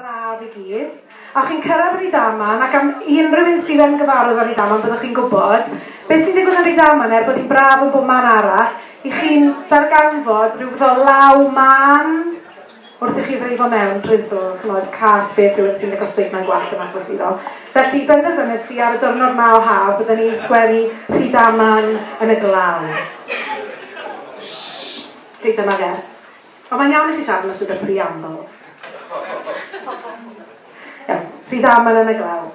braf i gyd, a chi'n cyrraedd Rydaman, ac am unrhyw un sydd yn gyfarwydd â Rydaman, byddwch chi'n gwybod beth sy'n digwydd yn Rydaman, er bod hi'n braf yn bob man arall, i chi'n darganfod rhyw fath o law mân wrth i chi ddreifo mewn, drizzle, chymod, cas beth yw sy'n lico steik mae'n gwallt yn achos iddo. Felly, benderfynes i ar y diwrnod ma o haf, byddwn ni'n sgwennu Rydaman yn y glaw. Rydaman er. Ond mae'n iawn i chi siarad am y Llyfr Preamble. Iawn, rhy dda mae'n yn y glaw.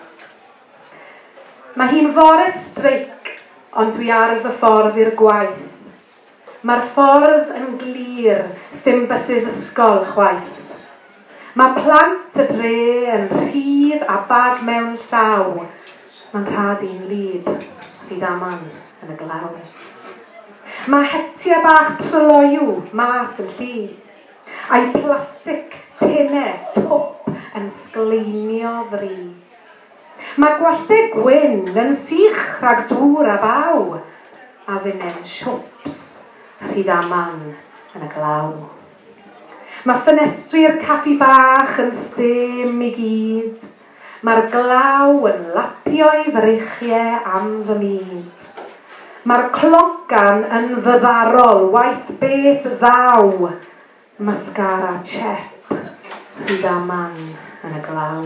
Mae hi'n fore streic, ond dwi ar fy ffordd i'r gwaith. Mae'r ffordd yn glir, sdim bysus ysgol chwaith. Mae plant y dre yn rhydd a bag mewn llaw, mae'n rhad i'n wlyb fyd aman yn y glaw. Mae hetia bach tryloyw mas yn llu, a'i plastic tine twp yn sgleinio fri. Mae gwallte gwyn yn sych rhag dŵr a baw, a finen siwps rhyd aman yn y glaw. Mae ffenestri'r caffi bach yn stêm i gyd, Mae'r glaw yn lapio'i freichie am fy myd. Mae'r clogan yn fyddarol, waeth beth ddaw, Mascara Chep, rhyda man yn y glaw.